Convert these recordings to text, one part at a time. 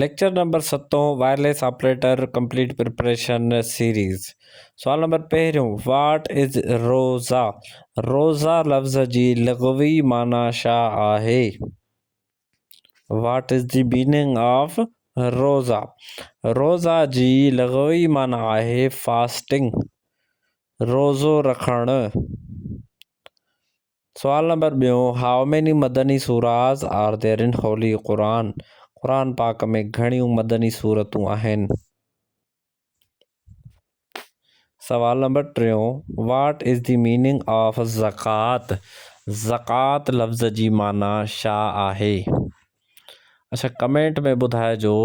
Lecture number ستون، wireless operator complete preparation series سوال number پهريون، واٽ از روزا؟ روزا لفظ جي لغوي معنيٰ شا آهي؟ What is the meaning of roza? روزا جي لغوي معنيٰ آهي فاسٽنگ، روزو رکڻ. سوال نمبر ٻيون، how many Madani surahs are there in holy Quran? Quran پاڪ ۾ گهڻيون مدني سورتون آهن. سوال نمبر ٽيون، what is the meaning of zakat? زڪوات لفظ جي معنيٰ شا آهي؟ اڇا ڪمينٽ ۾ ٻڌائجو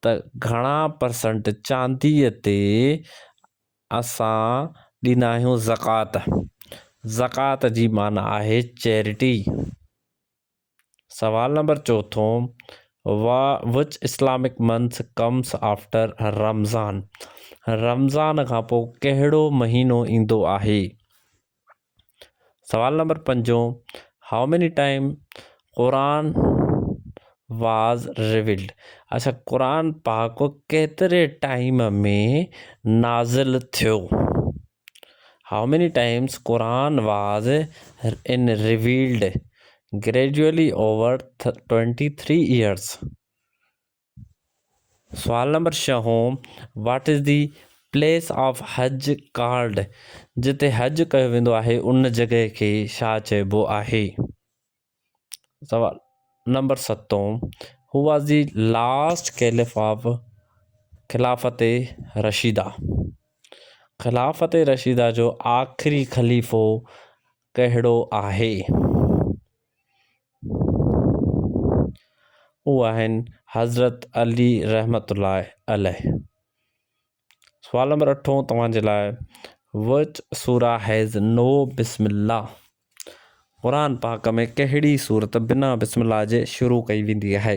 ته گهڻا پرسنٽ چانديء تي اسان ڏيندا آهيون زڪوات. زڪوات جي معنيٰ آهي چيرٽي. سوال نمبر چوٿون وا which Islamic month comes after Ramzan Ramzan کان پوء ڪهڙو مهينو ايندو آهي؟ سوال نمبر پنجون how many time Quran was revealed اچھا قرآن پاڪ ڪيتري ٽائم ۾ نازل ٿيو how many times Quran was in revealed gradually over twenty three years سوال نمبر ڇهون what is the place of Hajj called جتي حج ڪيو ويندو آهي ان جڳهه کي ڇا چئبو آهي سوال نمبر ستون who was the last caliph of Khilafat Rashida خلافت رشيده جو آخري خليفو ڪهڙو آهي هو آهن حضرت علي رحمت الله عليه سوال نمبر اٺون توهان جي لاء وچ سورا هيز نو بسم الله قرآن پاڪ ۾ ڪهڙي صورت بنا بسم الله جي شروع ڪئي ويندي آهي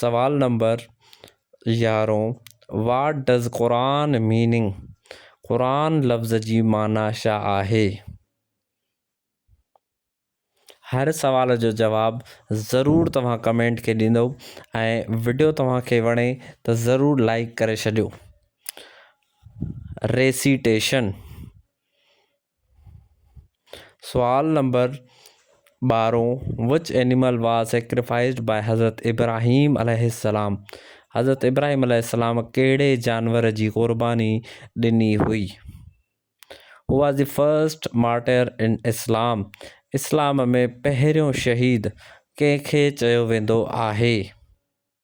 سوال نمبر يارهون What does Quran meaning؟ قرآن لفظ جي معنيٰ شا آهي؟ هر سوال جو جواب ضرور توهان ڪمينٽ کي ڏيندو ۽ وڊيو توهان کي وڻي ته ضرور لائڪ ڪري ڇڏيو ريسيٽيشن سوال نمبر ٻارهون which animal was sacrificed by حضرت ابراهيم عليه السلام حضرت ابراهيم عليه السلام ڪهڙي جانور جي قرباني ڏني هئي who was the first martyr in Islam اسلام ۾ پهريون شهيد ڪنهن کي چيو ويندو آهي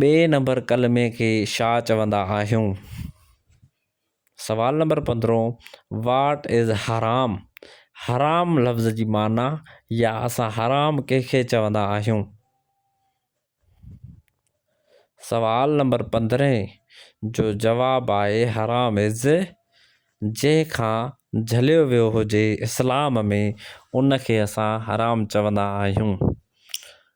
ٻئي نمبر ڪلمي کي شا چوندا آهيون؟ سوال نمبر پندرهون واٽ از حرام؟ حرام لفظ جي معنيٰ يا اسان حرام ڪنهن کي چوندا آهيون؟ سوال نمبر پندرهين جو جواب آهي حرام از جنهن کان جهليو ويو هجي اسلام ۾ ان کي اسان حرام چوندا آهيون.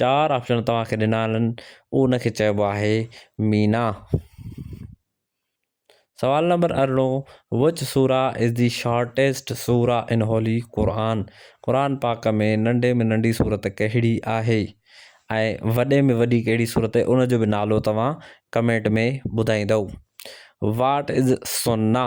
چار آپشن توهان کي ڏنا آهن ان کي چئبو آهي مينا سوال نمبر ارڙهون وچ سورا از دي شارٽيسٽ سورا ان هولي قرآن قرآن پاڪ ۾ ننڍي ۾ ننڍي صورت ڪهڙي آهي ۽ وڏي ۾ وڏي ڪهڙي صورت آهي ان جو به نالو توهان ڪمينٽ ۾ ٻڌائيندو واٽ از سنا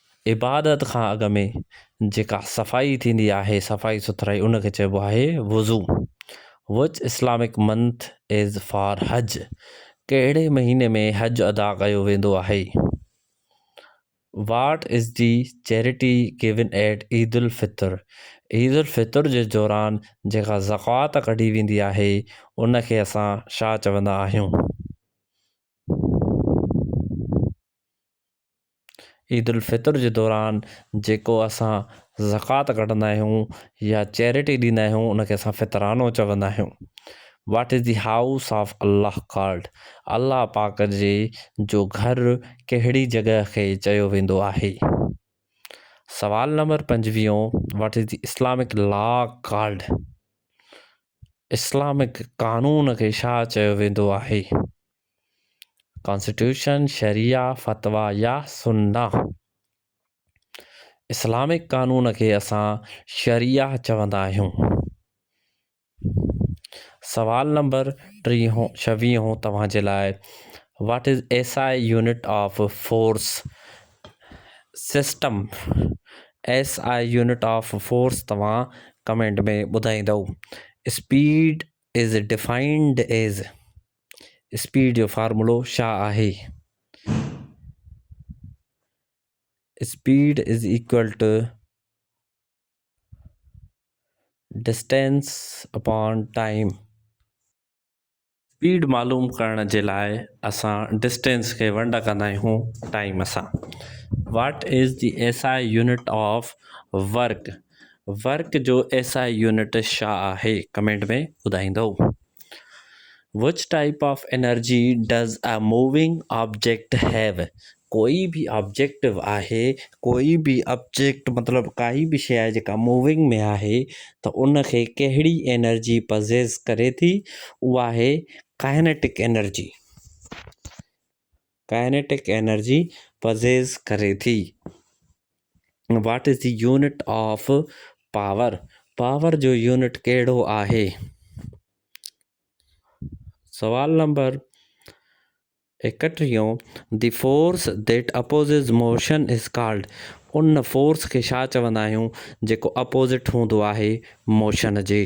عبادت کان اڳ ۾ جيڪا صفائي ٿيندي آهي صفائي سٿرائي ان کي چئبو آهي وضو which Islamic month is for Hajj ڪهڙي مهيني ۾ حج ادا ڪيو ويندو آهي what is the charity given at Eid الفطر عيد الفطر جي دوران جيڪا زڪوات ڪڍي ويندي آهي ان کي اسان شا چوندا آهيون. عيد الفطر جي دوران جيڪو اسان زڪوات ڪڍندا آهيون يا چيرٽي ڏيندا آهيون ان کي اسان فطرانو چوندا آهيون what is the house of Allah called Allah پاڪ جي جو گهر ڪهڙي جڳهه کي چيو ويندو آهي سوال نمبر پنجويهون what is the Islamic law called Islamic قانون کي ڇا چيو ويندو آهي ڪانسٽيٽيوشن، شريعه، فتويٰ يا سنّه. اسلامڪ قانون کي اسان شريعه چوندا آهيون. سوال نمبر ٽيهون ڇويهون توهان جي لاء what is S I unit of force system S I unit of force توهان ڪمينٽ ۾ ٻڌائيندو speed is defined as speed جو فارمولو ڇا آهي؟ Speed is equal to distance upon time. Speed معلوم ڪرڻ جي لاء اسان ڊسٽينس کي ونڊ ڪندا آهيون ٽائيم سان. What is the S I unit of work? Work جو ايس آء يونٽ ڇا آهي ڪمينٽ ۾ ٻڌائيندؤ. Which type of energy does a moving object have ڪوئي به آبجيڪٽ آهي ڪوئي به آبجيڪٽ مطلب ڪائي به شيء آهي جيڪا موونگ ۾ آهي ته ان کي ڪهڙي انرجي پزيس ڪري ٿي اها آهي kinetic energy kinetic energy possesses ڪري ٿي. What is the unit of power? Power جو يونٽ ڪهڙو آهي؟ سوال نمبر ايڪٽيهون the force that opposes motion is called ان فورس کي ڇا چوندا آهيون جيڪو اپوزٽ هوندو آهي موشن جي؟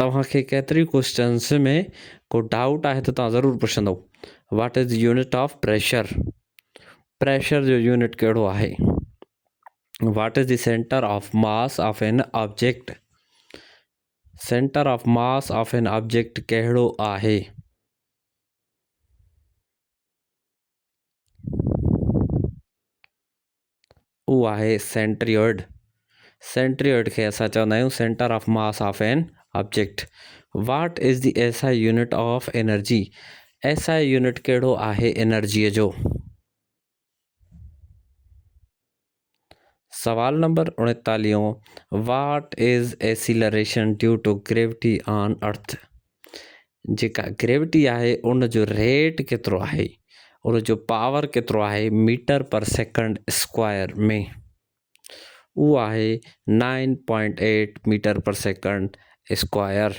توهان کي ڪيتري ڪوئسچنس ۾ ڪو ڊائوٽ آهي ته توهان ضرور پڇندو what is unit of pressure pressure جو يونٽ ڪهڙو آهي what is the centre of mass of an object centre of mass of an object ڪهڙو آهي اهو آهي سينٽريوڊ سينٽريوڊ کي اسان چوندا آهيون centre of mass of an object what is the S I unit of energy S I unit ڪهڙو آهي انرجيء جو سوال نمبر اڻيتاليهون، What is Acceleration Due to Gravity on Earth؟ جيڪا گريوٽي آهي ان جو ريٽ ڪيترو آهي ان جو پاور ڪيترو آهي ميٽر پر سيڪنڊ اسڪوائر ۾ اهو آهي 9.8 metre per second square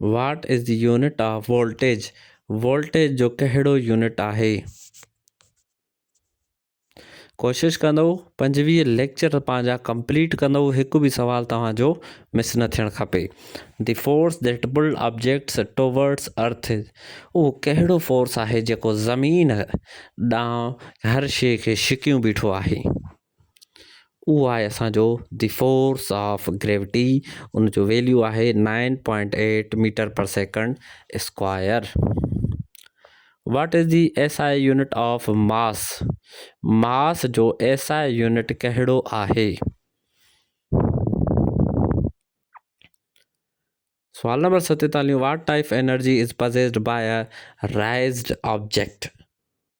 what is the unit of voltage voltage جو ڪهڙو يونٽ آهي ڪوشش ڪندو پنجويهه ليڪچر پنهنجا ڪمپليٽ ڪندو هڪ به سوال توهان جو مس نه ٿيڻ کپي the force that pull objects towards earth اهو ڪهڙو فورس آهي جيڪو زمين ڏانهن هر شيء کي شڪيون بيٺو آهي اهو آهي اسان جو دي فورس آف گريوٽي ان جو ويليو آهي nine point eight metre per second square what is the S I unit of mass mass جو ايس آء يونٽ ڪهڙو آهي سوال نمبر ستيتاليون what type energy is possessed by raised object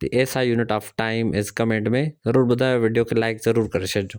the S I unit of time is comment ۾ ضرور ٻڌايو video کي like ضرور ڪري ڇڏجو.